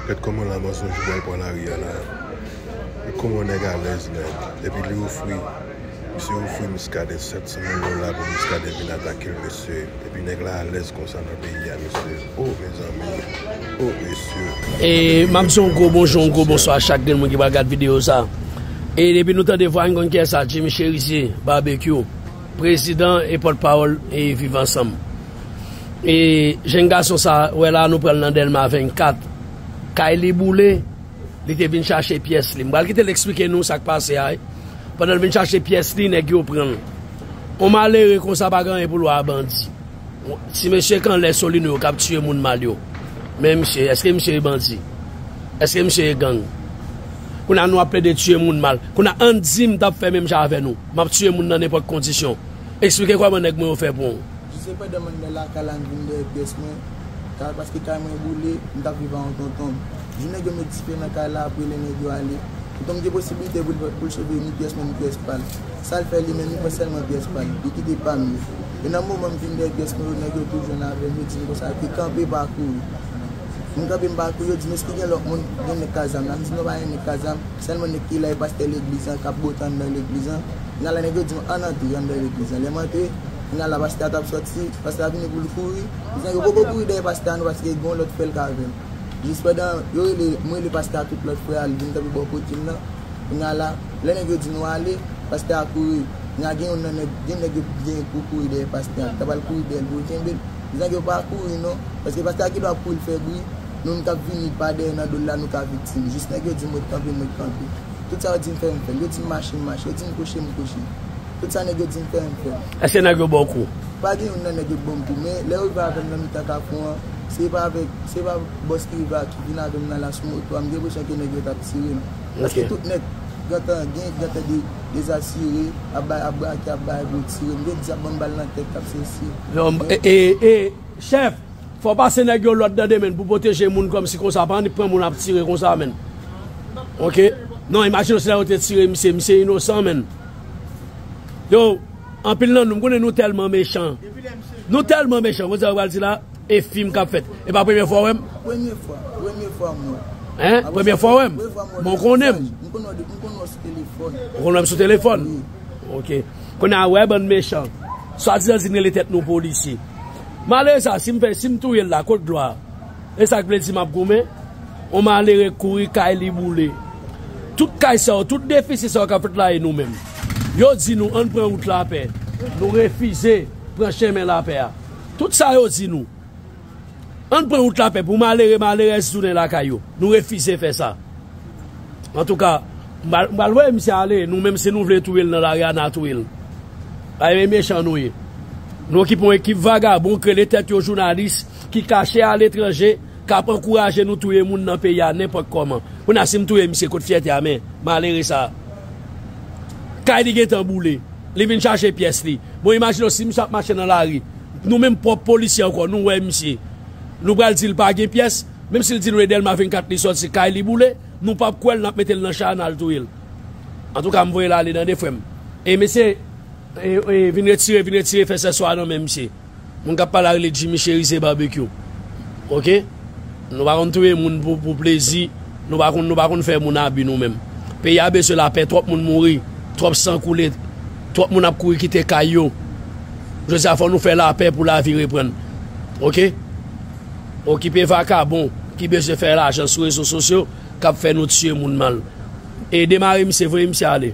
Gad kòman la mensonge pral pran lari a la Gad kòman nèg alèz menn Epi li ofri Misye ofri Muscadin 700 mil dola pou Muscadin vin atakel mesye Epi nèg la alèz konsa nan peyi a mesye Oh mezanmi Oh mesye E map di yon gwo bonjou yon gwo bonswa a chak grenn moun ki pral gad videyo sa E depi nou tande vwa a nou konn kiyès la Jimmy Cherizier Barbecue Prezidan e pòt pawòl e viv ansanm. E jèn gason sa wè la nou pranl nan dèlma 24 kay li boule li te vin chache pyès li m pral kitel esplike nou sak pase a wi pandanl vin chache pyès li nèg yo pranl on malere konsa pa gen anyen poul wè a bandi ti mesye k anlè solino yo kap tiye moun mal yo men misye eske misye e bandi eske misye e gang kounya nou ap plede tiye moun mal kounya ann dim tap fè menm jan avè nou map tiye moun nan nenpòt kondisyon esplike kòman nèg mwen yo fè bon. Jise pandan mwen nan lakay la m vin dèyè pyès mwen kay paske kay mwen boule, m t ap viv ak yon tonton m. Jou nèg yo met dife nan kay la apre lè nèg yo ale, tonton m gen posiblite pou l pou l sove ni pyès mwen ni pyès pa l. Sa l fè li menm li pran sèlman pyès pa l, li kite pa m yo. E nan moman m vin dèyè pyès mwen yo nèg yo tou jwenn avè m yo di m konsa yo te kanpe pa kouri. M kanpe m pa kouri yo di m èske gen lòt moun gen nèg k a zam la m di non pa gen nèg k a zam sèlman nèg ki la e pastè legliz lan k ap bote anndan legliz lan. Nan la nèg yo di m ann antre anndan legliz lan lè m antre Nan la pasta tap soti, pasta vini poul kouri, mezanmi yo poko kouri dèyè pasta non paske gen yon lòt frèl ka avèl. Jis pandan yo rele, m rele pasta a tout lòt frè al vin kanpe bò kotem nan, kounya la, lè nèg yo di nou ale, pasta a kouri, kounya gen youn nan nèg, gen nèg yo genyen pou kouri dèyè pasta, li ta pral kouri dèyèl poul kenbel, mezanmi yo pa kouri non, paske pasta a gendwa ap kouri l fè bri, nou menm kap vini pa dèyè nan dol la nou ka viktim, jis nèg yo dim ret kanpe m ret kanpe, tout sa yo dim fè m fèl, yo dim mache m mache, yo dim kouche m kouche. Tout sa nèg yo di m fè m fè l. Eske nèg yo ba w kou? Pa gen youn nan nèg yo k ba m kou men lè yo rive avè m nan mitan kafou an se pa avèk se pa bòs ki rive ak vin avè m nan la sou moto a m te konsyan ke nèg yo t ap tire m paske tout nèg gentan gen gentan dezasire ap bay ap brake ap bay bri tire m gen di ap ban m bal nan tèt ap sesi m e chèf fò w pase nèg yo lòd tande menn pou pwoteje moun kòmsi konsa pa annik pran moun ap tire konsa menn ok non imajine w si lè yo te tire misye misye inosan menn. Yo anpil nan nou m konnen nou tèlman mechan nou tèlman mechan m konn sa yo pral di la e fim kap fèt e pa premye fwa w wèm premye fwa premye fwa m wèw hein premye fwa w wèm bon w konnen m m konnen w depi m konnen w sou telefòn ou konnen m sou telefòn ok kounye a wè bann mechan swadizan di n rele tèt nou polisye malere sa si m fè si m touye l la kot glwa a. Esak vle di map goumen? On malere kouri kay li boule. Tout kay sa yo, tout defisi sa yo kap fèt la e nou menm? Yo di nou ann pran wout lapè, nou refize pran chemen lapè a. Tout sa yo di nou ann pran wout lapè pou malere, malerèz tounen lakay yo, nou refize fè sa. Antouka, m pral voye misye ale, nou menm si nou vle touye l nan lari a na touye l. Pagen mechan nou ye. Nou ki pran ekip vagabon ki rele tèt yo jounalis. ki kache a letranje kap ankouraje nou touye moun nan peyi a nenpòt kòman kounye a sim touye misye kot fyète a men malere sa kay li gentan boule li vin chache pyès li bon imajine w si misye ap mache nan lari nou menm pwòp polisye ankò nou wè misye nou pral dil pa gen pyès menm sil di nou edel ma 24 li sòti kay li boule nou pap kwèl nap metel nan cha a nal touyel antouka m voyel ale tande frèm e mesye vin retire vin retire fè sèswa nan men misye. Moun kap pale a rele Jimmy Cherizier Barbecue ok nou pa konn touye moun pou plezi nou pa konn nou pa konn fè moun abi nou menm peyi a beswen lapè twòp moun mouri twòp san koule twòp moun ap kouri kite kay yo jodi a fò nou fè lapè pou lavi reprann ok okipe vakabon ki beswen fè lajan sou rezo sosyo kap fè nou tiye moun mal ede mare misye voye misye ale.